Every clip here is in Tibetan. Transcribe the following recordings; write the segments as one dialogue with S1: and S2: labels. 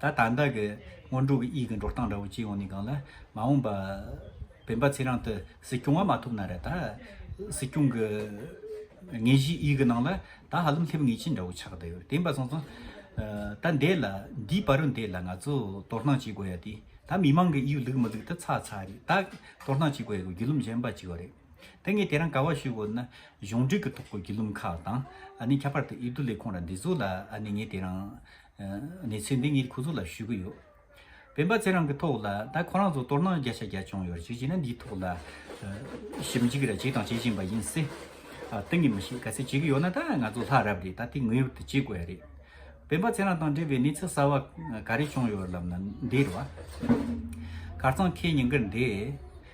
S1: ད་ལྟ་བདག་གི་སྔོན་འགྲོ་གི་དབྱིག་གི་འགྲོ་སྟངས་འདྲ་བོ་སྐྱེས་ཡོང་ནས་གང་ལ་མ་འོངས་པ། བན་པ་ཚེ་རིང་དུ་གཟིགས་སྐྱོང་བ་མ་ཐུབ་ན་རེ་ད་གཟིགས་སྐྱོང་གི་དངོས་གཞིའི་དབྱིག་གི་ནང་ལ་ད་ཧ་ལམ་སླེབས་ངེས་ཅན་འདྲ་བོ་ཆགས་བསྡད་ཡོད་བདེན་པ་སོང་ཙང། ད་འདས་ལ་འདིའི་བར་རུ་འདས་ལ་ང་ཚོ་དོ་སྣང་བྱེད་དགོས་ཡ་དེ་ད་མི་མང་གི་དབྱིབས་ལུགས་མི་ལུགས་ད་ཚ་ཚ་རེད་ད་དོ་སྣང་བྱེད་དགོས་ཡ་གི་རྒྱུ་ལུམ་གཞན་པ་བྱས་ཡོད་རེད་དེ་ངས་དེ་རང་ག་བ་ཞུས་དགོས་ན་གཞུང་འབྲེལ་གི་ཐོག་གི་རྒྱུ་ལུམ་ཁག་དང་ཨ་ནི་ཁྱད་པར་དུ་ཨེ་དུ་ལས་ཁུངས་ར་འདི་ཚོ་ལ་ཨ་ནི་ངས་དེ་རང་གནས་ཚུལ་འདི་ངས་ཁོ་ཚོ་ལ་ཞུ་གི་ཡོད། སྤེན་པ་ཚེ་རང་གི་ཐོག་ལ་ད་ཁོ་རང་ཚོ་སྟོར་སྣང་བརྒྱ་ཆ་བརྒྱ་བྱུང་ཡོད་རེད་ཅེས་བྱས་ན་འདིའི་ཐོག་ལ་ཞིབ་འཇིག་ར་བྱས་དང་བྱེད་བཞིན་པ་ཡིན་སྲིད། ཏིང་ངེ་མི་ཞིག་ག་ཚད་བྱེད་ཀྱི་ཡོད་ན་ད་ང་ཚོ་ལྷ་རབས་རེད་ད་དེ་ངོས་ཡོད་དུ་བྱེད་དགོས་ཡ་རེད། སྤེན་པ་ཚེ་རང་དང་འབྲེལ་བའི་གནས་ཚུལ་གསར་བ་ག་རེ་བྱུང་ཡོད་ལབ་ན་འདིར་བ། དཀར་གཙང་ཁའི་ཉིང་ཁར་འདས།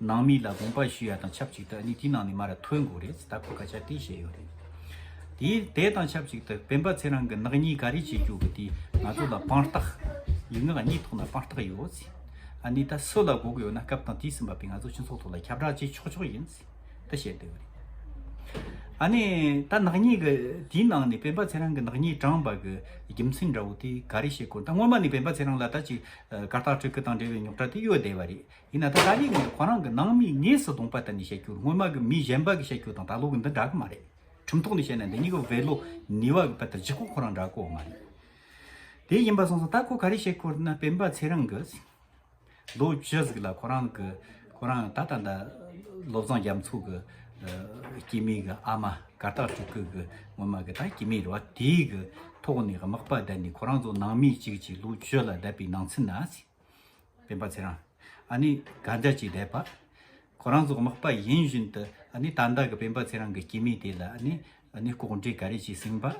S1: ནང་མི་ལ་དགོངས་པ་ཞུ་ཡ་དང་ཆབས་ཅིག་ཏུ་ཨ་ནི་དེའི་ནང་ནས་མར་ཐོན་དགོས་རེད་ཟེར་ད་ཁོ་སྐད་ཆ་དེ་བཤད་ཡོད་རེད། དེ་དེ་དང་ཆབས་ཅིག་ཏུ་སྤེན་པ་ཚེ་རང་གི་ནག་ཉེས་ག་རེ་བྱེད་རྒྱུ་གི་དེ་ང་ཚོ་ལ་དཔང་རྟགས་ཡིན་ངེས་ཨ་ནི་ཐོག་ན་དཔང་རྟགས་ཡོད་ཟེར། ཨ་ནི་ད་སུ་ལ་དགོས་ཀྱི་ཡོད་ན་སྐབས་དང་དུས་ཟིན་པ་པས་ང་ཚོ་སྤྱི་ཚོགས་ཐོག་ལ་ཁྱབ་བསྒྲགས་བྱེད་ཆོག་ཆོག་ཡིན་ཟེར་ད་བཤད་སྡོད་རེད། ཨ་ནི་ད་ནག་ཉེས་གི་དེའི་ནང་ནས་སྤེན་པ་ཚེ་རང་གི་ནག་ཉེས་བགྲངས་པ་གི་རྒྱུ་མཚན་འདྲ་བོ་དེ་ག་རེ་བཤད་དགོས་ད་སྔོན་མ་ནས་སྤེན་པ་ཚེ་རང་ལ་ད་ཅིག་དཀར་རྟགས་སྤྲོད་ཁུལ་དང་འབྲེལ་བའི་རྙོག་དྲ་དེ་ཡོད་བསྡད་པ་རེད། ཡིན་ན་ད་ལྟ་ནི་ངས་ཁོ་རང་གི་ནང་མིའི་ངོས་སུ་གདོང་པ་དེ་ནི་བཤད་རྒྱུར་སྔོན་མ་གི་མི་གཞན་པ་གི་བཤད་རྒྱུ་དང་ད་ལོ་གི་འདི་འདྲ་གི་མ་རེད། ཁྲིམས་ཐོག་ནས་བཤད་ན་འདི་གཉིས་ཀ་བོད་ལོ་ནི་བ་གི་བར་དུ་བརྗེ་སྐོར་ཁོ་རང་འདྲ་གོ་མ་རེད། དེ་ཡིན་པ་སོང་སོང་ད་ཁོ་ག་རེ་བཤད་ཁོ་ན་སྤེན་པ་ཚེ་རིང་གིས་རྡོ་རྗེ་གཟིགས་ལ་ཁོ་རང་གི་ཁོ་རང་ད་ད་ད་བློ་བཟང་རྒྱ་མཚོ་གི་སྐྱེས་མིའི་གི་ཨ་མ་གར་སྟག་ཕྲུག་གི་གི་སྔོན་མ་གི་ད་སྐྱེས་མིའི་རེད་བ་དེའི་གི་ཐོག་ནས་དམག་པ་བསྡད་ནས་ཁོ་རང་ཚོ་ནང་མི་གཅིག་གཅིག་ལོ་རྒྱུས་ལ་བསྡད་པའི་ནང་ཚུན་ན། བསྟན་པ་ཚེ་རང་ཨ་ནི་ག་འདྲ་ཅིག་བསྡད་པ། ཁོ་རང་ཚོ་དམག་པ་ཡིན་བཞིན་དུ་ཨ་ནི་ད་ལྟ་གི་བསྟན་པ་ཚེ་རང་གི་སྐྱེས་མིང་དེ་ལ་ཨ་ནི་ཨ་ནི་ལྐོག་འབྲེལ་ག་རེ་ཅིག་ཟིན་པ།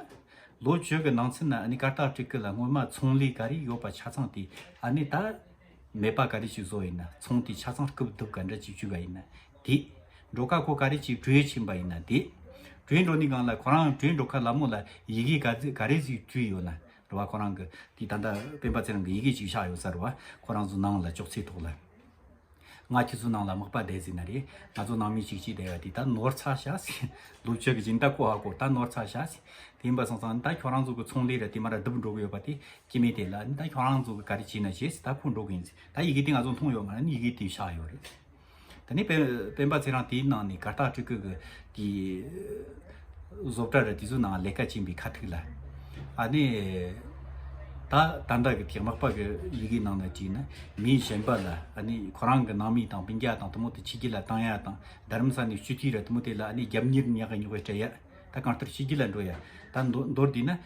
S1: ལོ་བཅོ་ཀི་ནང་ཚུན་ཨ་ནི་སྐར་སྟག་ཀྲིག་ཀི་ལ་སྔོན་མ་ཚོང་ལས་ག་རེ་ཡོད་པ་ཆ་ཚང་དེ་ཨ་ནི་ད་མེད་པ་ག་རེ་ཅིག་བཟོ་ཡིན་ན་ཚོང་དེ་ཆ་ཚང་རྐུབ་རྡུབ་ག་འདྲ་ཅིག་བྱུས་ག་ཡིན་ན་དེ། འགྲོ་ཁ་ཁོ་ག་རེ་ཅིག་བྲོས་ཕྱིན་པ་ཡིན་ན་དེ། བྲོས་འགྲོ་ནི་གང་ལ་ཁོ་རང་བྲོས་འགྲོ་ཁ་ལ་མོ་ལ་ཡི་གེ་ག་རེ་ཟིག་བྲུས་ཡོད་ན་རེད་བ་ཁོ་རང་གི་དེ་ད་ལྟ་སྤེན་པ་ཚེ་རིང་གི་ཡི་གེ་གཅིག་ཆགས་ཡོད་ས་རེད་བ་ཁོ་རང་ཚོ་ནང་ལ་ཅོག་ཚེ་ཐོག་ལ་ང་ཁྱེད་ཚོ་ནང་ལ་མག་པ་བསྡད་ཟིན་ན་རེད་ང་ཚོ་ནང་མི་གཅིག་གཅིག་བསྡད་བ་དེ་ད་ནོར་ཚ་བྱ་ཟིན་ལུག་ཁྱེད་ཀྱི་ཇི་ལྟ་ཁོ་ཧ་གོ་ད་ནོར་ཚ་བྱ་ཟིན་དེ་འབའ་སང་སང་ད་ཁྱོད་རང་ཚོ་གི་ཚོང་ལས་ར་དེ་མ་ར་བསྡུ་འགྲོ་གི་ཡོད་བ་དེ་སྐྱེ་མེད་དེ་ལ་ད་ཁྱོད་རང་ཚོ་གི་ག་རེ་བྱེད་ན་བྱེད་ད་ཁོ་འགྲོ་གི་ཡིན་ཟིན་ད་ཡི་གེ་དེ་ང་ཚོ་མཐོང་ཡོད་མ་ར་ཡི་གེ་དེ་ཆགས་ཡོད་རེད། དེ་ནས་སྤེན་པ་ཚེ་རང་དེའི་ནང་ནས་གར་སྟག་སྤྲུལ་སྐུ་གི་བཟོ་གྲྭ་རེད་དེ་ཚོའི་ནང་ལས་ཀ་བྱིན་པའི་ཁ་ཐུག་ལ་ཨ་ནི་ད་ད་འདྲ་གི་དེག་མག་པ་གི་ཡི་གེ་ནང་ན་བྲིས་ན་མིའི་གཞན་པ་ལ་ཨ་ནི་ཁོ་རང་གི་ནང་མི་དང་སྤུན་རྒྱ་དང་དུ་མོ་དེ་ཕྱི་རྒྱུ་ལ་བཏང་ཡ་དང་རྡ་རམ་ས་ནས་བཅུ་དུས་ར་དུ་མོ་དེ་ལ་ཨ་ནི་རྒྱབ་གཉེར་ཉག་གི་ཉོག་པའི་སྤྲད་ཡ་ད་གང་ལྟར་ཕྱི་རྒྱུ་ལ་འགྲོ་ཡ་ད་མདོར་བསྡུས་ན།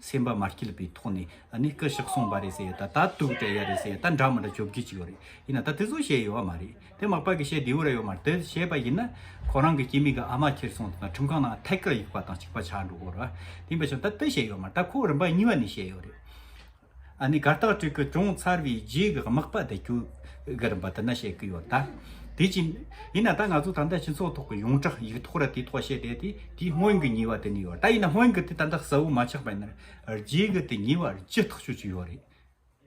S1: སེམས་པ་མ་སྐྱིད་པའི་ཐོག་ནས་ནི་སྐུ་ཞིག་གསུངས་པ་རེད་ཟེར་ད་ད་དུག་དེ་ཡ་རེད་ཟེར་ད་འདྲ་མི་འདྲ་བཅོ་བརྒྱད་ཅིག་ཡོད་རེད་ཡིན་ན་ད་དེ་ཚོ་བཤད་ཡོད་བ་མ་རེད་དེ་མག་པ་གི་བཤད་དེ་འུ་ར་ཡོད་མ་རེད་དེ་བཤད་པ་ཡིན་ན་ཁོ་རང་གི་སྐྱེ་མིག་གི་ཨ་མ་ཁྱེར་སོང་དང་ཁྲིམས་ཁང་ནང་ཐད་ཀར་ཡིག་པ་དང་ཅིག་པ་ཆགས་འགྲོ་གོ་ར་ཡིན་པ་བྱུང་ད་དེ་བཤད་ཡོད་མ་རེད་ད་ཁོ་རིམ་པ་གཉིས་པ་ནས་བཤད་ཡོད་རེད། ཨ་ནི་གར་སྟག་ཕྲུག་གི་ཅུང་མཚར་བའི་རྗེས་ཀྱི་དམག་པ་དེ་ཁྱོད་རང་བ་དེ་འདྲ་བྱེད་ཀྱི་ཡོད་ད། དེ་བཞིན། ཡིན་ན་ད་ང་ཚོ་ད་ལྟ་སྤྱི་ཚོགས་ཐོག་གི་ཡོངས་གྲགས་ཡིག་ཐོག་ར་དེའི་ཐོག་བཤད་བསྡད་དེ་དེའི་སྔོན་གྱི་ཉེས་བ་དེ་ནི་ཡོད་ད་ཡིན་ན་སྔོན་གྱི་དེ་ད་ལྟ་གསལ་བོ་མ་ཆགས་པ་ཡིན་ན་རྗེས་ཀྱི་དེ་ཉེས་བ་ཇི་ལྟར་ཤོད་ཀྱི་ཡོད་རེད།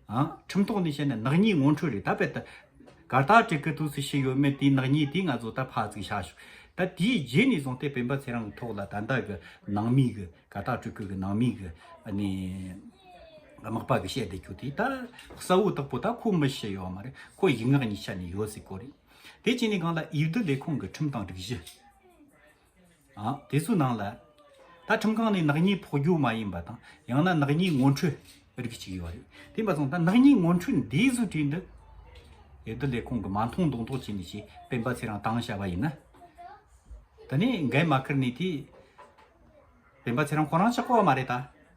S1: ཨ། ཁྲིམས་ཐོག་ནས་བཤད་ན་ནག་ཉེས་ངོ་འཕྲོད་རེད་ད་བས་ད། གར་སྟབས་ཀྱི་ཀི་ཐུགས་སུ་ཞིག་ཡོད་མེད་དེའི་ནག་ཉེས་དེ་ང་ཚོ་ད་ཕར་ཚུགས་ཤག་ཤོག་ད་དེའི་རྗེས་ནས་བཟུང་སྟེ་བན་པ་ཚེ་རང་གི་ཐོག་ལ་ད་ལྟ་གི་ནང་མི་གི་གར་སྟབས་སྤྲུལ་སྐུ་གི་ནང་མི་གི་ནི་དམག་པ་གི་བཤད་བསྡད་རྒྱུ་དེ་ད་གསལ་བོ་དག་པོ་ད་ཁོ་མི་ཤེས་ཡོད་མ་རེད་ཁོ་ཡིག་ངག་གཉིས་ཆ་ནས་ཡོད་སྲིད་ཀོ་རེད་དེ་གཅིག་ནས་གང་ལ་ཨིར་རྡི་ལས་ཁུངས་གི་ཁྲིམས་དང་སྒྲིག་གཞི། དེ་ཚོའི་ནང་ལ་ད་ཁྲིམས་ཁང་ནས་ནག་ཉེས་ཕོག་རྒྱུ་མ་ཡིན་པ་དང་ཡང་ན་ནག་ཉེས་ངོ་འཕྲོད་རིགས་གཅིག་ཡོད་རེད་དེ་མ་ཚང་ད་ནག་ཉེས་ངོ་འཕྲོད་འདི་བཟོས་དུས་འདི་ཡོད་དོ་ལས་ཁོང་གི་མ་མཐོང་མདོང་མདོག་བྱས་ནས་ཞེས་སྤེན་པ་ཚེ་རང་དྭངས་བྱ་བ་ཡིན་ན་ད་ནས་འགན་མ་ཁུར་ནས་དེ་སྤེན་པ་ཚེ་རང་ཁོ་རང་ཆགས་པ་མ་རེད་ད།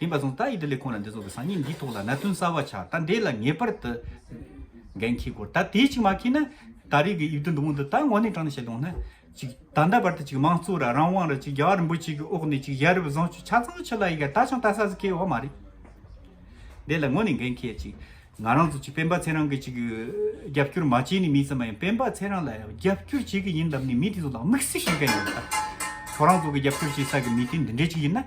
S1: དེ་མ་སོང་ད་ཡི་དེ་ལས་ཁོང་ལ་འདི་ཚོགས་པའི་སང་ཉིན་འདིའི་ཐོག་ལ་གནད་དོན་གསར་བ་ཆགས་ད་འདས་ལ་ངེས་པར་དུ་འགན་འཁྱེར་དགོས་ད་དེ་ཅིག་མ་འཁྱེར་ན་ད་རེས་ཀྱི་ཡིག་འབྲུ་འདི་མོ་འདི་ད་ངོ་ནས་དྲང་ནས་བཤད་ལོང་ན་ཅིག་ད་ལྟ་བར་དུ་ཅིག་མང་གཙོ་ར་རང་དབང་ར་ཅིག་རྒྱ་གར་རིན་པོ་ཆེ་གི་འོག་ནས་ཅིག་ཡ་རབས་བཟང་སྤྱོད་ཆ་ཚང་ཕྱི་ལ་ཡི་ག་ད་ཆང་ད་ས་ཟིག་ཁེལ་བ་མ་རེད། འདས་ལ་ངོ་ནས་འགན་འཁྱེར་ཅིག་ང་རང་ཚོ་ཅིག་སྤེན་པ་ཚེ་རང་གི་ཅིག་རྒྱབ་སྐྱོར་མ་བྱས་ནས་མེད་ཙམ་མ་ཡིན་སྤེན་པ་ཚེ་རང་ལ་རྒྱབ་སྐྱོར་བྱེད་གི་ཡིན་ལབ་ནས་མི་དེ་ཚོ་ལ་དམིགས་བསལ་ཞིག་འགན་ཡོད་ད་ཁོ་རང་ཚོ་གི་རྒྱབ་སྐྱོར་བྱེད་ས་གི་མི་དེ་འདི་འདྲས་ཅིག་ཡིན་ན།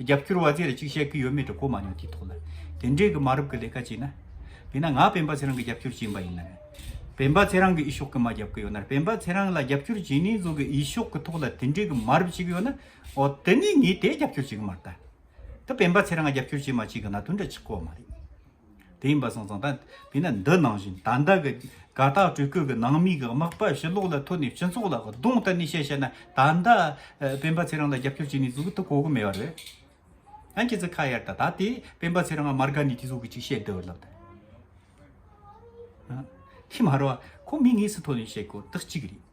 S1: རྒྱབ་སྐྱོར་བ་ཚོས་གཅིག་བཤད་ཀྱི་ཡོད་མེད་དྲི་གོ་མ་མྱོང་དེའི་ཐོག་ལ་དེ་འདྲའི་གི་མ་རབས་ཀྱི་ལས་ཀ་བྱས་ན། དེས་ན་ང་སྤེན་པ་ཚེ་རང་གི་རྒྱབ་སྐྱོར་བྱེད་པ་ཡིན་ན། སྤེན་པ་ཚེ་རང་གི་ཨི་ཤོག་གི་མ་རྒྱབ་ཀྱི་ཡོད་ན་སྤེན་པ་ཚེ་རང་ལ་རྒྱབ་སྐྱོར་བྱེད་ནས་ཟོ་གི་ཨི་ཤོག་གི་ཐོག་ལ་དེ་འདྲའི་གི་མ་རབས་བྱེད་ཀྱི་ཡོད་ན། ཨོ་དེ་ནས་ངས་དེ་རྒྱབ་སྐྱོར་བྱེད་ཀྱི་མ་རེད་ད། དེ་སྤེན་པ་ཚེ་རང་ལ་རྒྱབ་སྐྱོར་བྱེད་མ་བྱེད་གི་ན་དོན་འདྲ་ཆི་གོ་བ་མ་རེད། དེ་ཡིན་པ་སོང་ཙང་ད་དེས་ན་འདི་ནང་བཞིན་ད་ལྟ་གི་དགའ་རྟགས་སྤྲུལ་སྐུ་གི་ནང་མི་གི་དམག་པ་ཞི་ལོག་ལ་ཐོན་ནས་སྤྱི་ཚོགས་ལ་གདོང་གཏད་ནས་བཤད་བཤད་ན་ད་ལྟ་སྤེན་པ་ཚེ་རིང་ལ་རྒྱབ་སྐྱོར་བྱེད་ནས་ཟུག་ཏུ་གོ་གི་མེད་པ་རེད། ཨང་ཁྱེད་ཚོས་ཁ་གཡར་ད་ད་དེས་སྤེན་པ་ཚེ་རིང་ང་མར་དགའ་ནས་དེ་ཟུག་གི་ཅིག་བཤད་དུ་ལབ་ད། ཨང། དེ་མ་རོ་ཁོ་མི་ངེས་སུ་ཐོན་ནས་བཤད་དགོས་དག་ཅིག་རེད།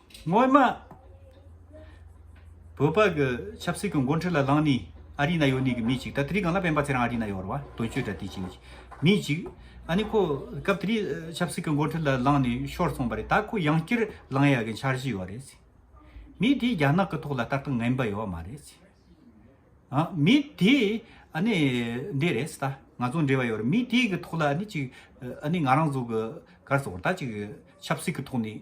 S1: སྔོན་མ། བོད་པ་གི་ཆབ་སྲིད་ཀྱི་འགོ་འཁྲིད་ལ་ལངས་ནས་ཨ་རི་ན་ཡོད་ནས་ཀྱི་མི་ཅིག་ད་དེ་རིང་གང་ལ་ཕན་པ་ཚེ་རང་ཨ་རི་ན་ཡོད་ར་བ་དོན་གཅོད་འདྲ་དེ་ཅིག་ནས་མི་ཅིག་ཨ་ནི་ཁོ་སྐབས་དེ་རིང་ཆབ་སྲིད་ཀྱི་འགོ་འཁྲིད་ལ་ལངས་ནས་ཤོར་སོང་བ་རེད་ད་ཁོ་ཡང་སྐྱིར་ལངས་ཡག་གི་འཆར་གཞི་ཡོད་རེད་ཟེར། མི་དེ་རྒྱ་ནག་གི་ཐོག་ལ་ལྟ་སྟངས་ངན་པ་ཡོད་མ་རེད་ཟེར། ཨ་མི་དེ་ཨ་ནི་འདི་རེད་ཟེར་ད་ང་ཚོ་འབྲེལ་བ་ཡོད་རེད་མི་དེ་གི་ཐོག་ལ་ཨ་ནི་ཅིག་ཨ་ནི་ང་རང་ཚོ་གི་སྐར་ཚོགས་ད་ཅིག་ཆབ་སྲིད་ཀྱི་ཐོག་ནས།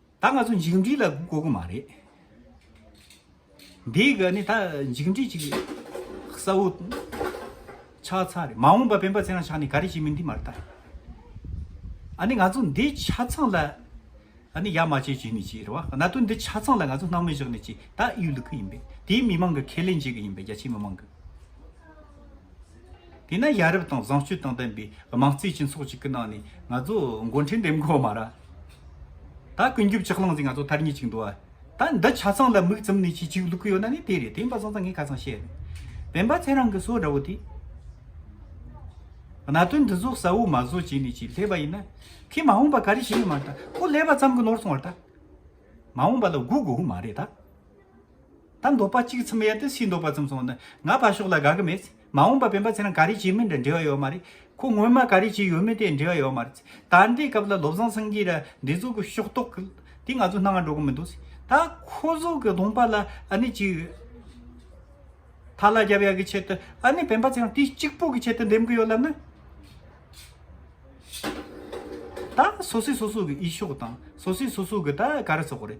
S1: ད་ང་ཚོ་འཇིགས་འབྲིད་ལ་གོ་དགོས་མ་རེད། འདི་ག་ནི་ད་འཇིགས་འབྲིད་ཅིག་རེད། གསལ་བོ་ཆགས་ཚར་རེད་མ་འོངས་པ་སྤེན་པ་ཚེ་རང་ཕྱག་ནི་ག་རེ་བྱེད་མིན་འདི་མ་རེད་ད། ཨ་ནི་ང་ཚོ་འདི་ཆ་ཚང་ལ་ཨ་ནི་ཡ་མ་བྱེད་བྱེད་ནི་བྱེད་རེད་བ་གནའ་དུས་འདི་ཆ་ཚང་ལ་ང་ཚོ་སྣང་མེད་བཞག་ནི་བྱེད་ད་གཡུལ་ལུ་གི་ཡིན་པས་དེའི་མི་མང་གི་ཁས་ལེན་བྱེད་གི་ཡིན་པས་རྒྱ་ཆེའི་མི་མང་གི། དེས་ན་ཡ་རབས་དང་བཟང་སྤྱོད་དང་ལྡན་པའི་དམངས་གཙོའི་སྤྱི་ཚོགས་ཅིག་གི་ནང་ནས་ང་ཚོ་མགོ་འཁྲིད་འདེམས་དགོས་མ་ར་ད་ཀུན་རྒྱུ་ལྕགས་སླང་ཟིག་ང་ཚོ་ཐར་ཉེ་ཅིག་འདུག་ཨ་ད་འདི་ཆ་ཚང་ལ་མིག་བཙུམ་ནས་ཅིག་ཅིག་ལུག་གི་ཡོད་ན་ནི་དེ་རེད་དེ་འབའ་ཚང་ཚང་ངས་ཁ་ཚང་བཤད་རེད་བན་པ་ཚེ་རང་གི་སོ་འདྲ་བོ་དེས། གནད་དོན་འདི་ཚོ་གསལ་བོ་མ་བཟོ་བྱས་ནས་ཅིག་སླེབས་པ་ཡིན་ན་ཁོས་མ་འོངས་པ་ག་རེ་བྱེད་ཡོད་མ་རེད་ད་ཁོ་སླེབས་པ་ཙམ་གྱི་ནོར་སོང་བ་རེད་ད་མ་འོངས་པ་ལ་སྒུག་དགོས་མ་རེད་ད། ད་འདོད་པ་གཅིག་གི་ཚིམ་ཡས་དེ་སུས་འདོད་པ་ཚིམ་སོང་ནི་ང་ཕར་ཞོག་ལ་དགའ་གི་མེད། མ་འོངས་པ་སྤེན་པ་ཚེ་རིང་ག་རེ་བྱེད་མིན་དྲི་འབྲེལ་བ་ཡོད་མ་རེད། ཁོ་སྔོན་མ་ག་རེ་བྱས་ཡོད་མིན་དེ་འབྲེལ་བ་ཡོད་མ་རེད། ད་ལྟའི་སྐབས་ལ་བློ་བཟང་སེང་གེ་ར་འདི་ཚོ་གི་ཤོག་ཏོག་གི་དེ་ང་ཚོ་སྣང་ང་འགྲོ་གི་མི་འདུག་ད་ཁོ་ཚོ་གི་ལུང་པ་ལ་ཨ་ནི་ཅི་ཡོད། ཐ་ལ་རྒྱབ་ཡ་གི་ཆེད་དུ་ཨ་ནི་སྤེན་པ་ཚེ་རིང་དེ་གཅིག་པོ་གི་ཆེད་དུ་འདེམས་གི་ཡོད་ལབ་ན། ད་སོ་སོས་སོ་སོ་གི་ཨི་ཤོག་དང་སོ་སོས་སོ་སོ་གི་ད་ག་རེ་ཟོག་རེད།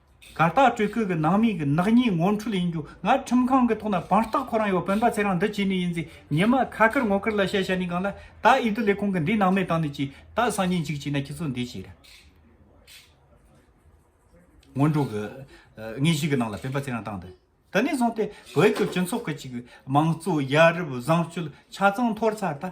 S1: གར་སྟེགས་སྤྲུལ་སྐུ་གི་ནང་མིའི་གི་ནག་ཉེས་ངོ་འཕྲོད་ཡིན་རྒྱུ་ང་ཁྲིམས་ཁང་གི་ཐོག་ན་བང་རྟགས་ཁོ་རང་ཡོད་བོན་པ་ཚེ་རང་འདི་བྱས་ནི་ཡིན་ཟེར་ཉེས་མ་ཁ་བཀར་ངོ་བཀར་ལ་བཤད་བྱ་ནི་གང་ལ་ད་ཨི་དི་ལས་ཁུང་གི་འདི་ནང་མི་དང་ནི་ཅི་ད་སང་ཉིན་གཅིག་བྱས་ན་ཁྱི་ཚོ་འདི་བྱས་ར་ངོ་འགྲོ་གི་ངས་གཞི་གི་ནང་ལ་བོན་པ་ཚེ་རང་བཏང་འདི་ད་ནས་བཟུང་སྟེ་བོད་ཀྱི་སྤྱི་ཚོགས་གི་ཅིག་མང་གཙོ་ཡ་རབས་བཟང་སྤྱོད་ཆ་ཚང་འཐོར་ཚར་ད།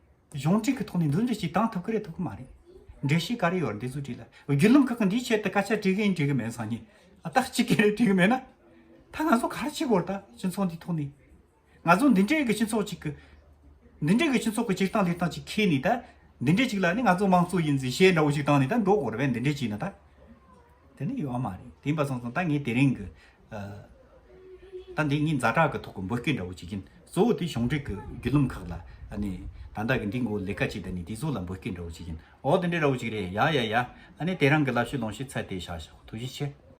S1: གཞུང་འབྲེལ་གྱི་ཐོག་ནས་མདུན་བསྐྱོད་ཅིག་གཏང་ཐུབ་ཀི་རེད་ཐུབ་ཀི་མ་རེད། འགྲེལ་བཤད་ག་རེ་ཡོད་རེད་འདི་ཚོ་བྲིས་ལ། བརྒྱུད་ལམ་ཁག་གི་འདིའི་ཆེད་དུ་སྐད་ཆ་བྲིས་གིན་བྲིས་གིན་མེད་སང་ཉིན། རྟགས་གཅིག་གི་རེད་བྲིས་གིན་མེད་ན། ད་ང་ཚོ་ག་རེ་བྱེད་དགོས་རེད་ད་སྤྱི་ཚོགས་འདིའི་ཐོག་ནས། ང་ཚོ་འདི་འདྲའི་གི་སྤྱི་ཚོགས་ཅིག་གི། འདི་འདྲའི་གི་སྤྱི་ཚོགས་ཀྱི་སྤྱིར་བཏང་ལས་སྟངས་ཅིག་ཁེལ་ནས་ད། འདི་འདྲའི་ཅིག་ལ་ནི་ང་ཚོ་དམངས་གཙོ་ཡིན་ཟེར་བཤད་འདྲ་བོ་ཅིག་བཏང་ནས་ད་འགྲོ་དགོས་རེད་བས་འདི་འདྲའི་ཅིག་ན་ད། དེ་ནི་ཡོད་མ་རེད་དེ་ཡིན་པ་སོང་སོང་ད་ངས་དེ་རིང་གི། ད་འདི་གཉིས་མཛའ་གྲགས་ཀྱི་ཐོག་གི་འབོད་སྐད་འདྲ་བོ་བྱེད་ཀྱིན་གཙོ་བོ་དེ་གཞུང་འབྲེལ་གྱི་བརྒྱུད་ལུམ་ཁག་ལ་ནི་ད་ལྟ་གི་འདི་འགོ་ལས་ཀ་བྱེད་ད་ནི་དེ་ཚོ་ལ་འབོད་སྐད་འདྲ་བོ་བྱེད་ཀྱིན་ཨོ་དེ་འདྲ་ར་བོ་ཞིག་རེད་ཡ་ཡ་ཡ་ཨ་ནི་དེ་རང་གི་ལབ་ཤེས་ལོང་ཤེས་ཚད་དེ་བཞག་བཞག་ཐུགས་རྗེ་ཆེ།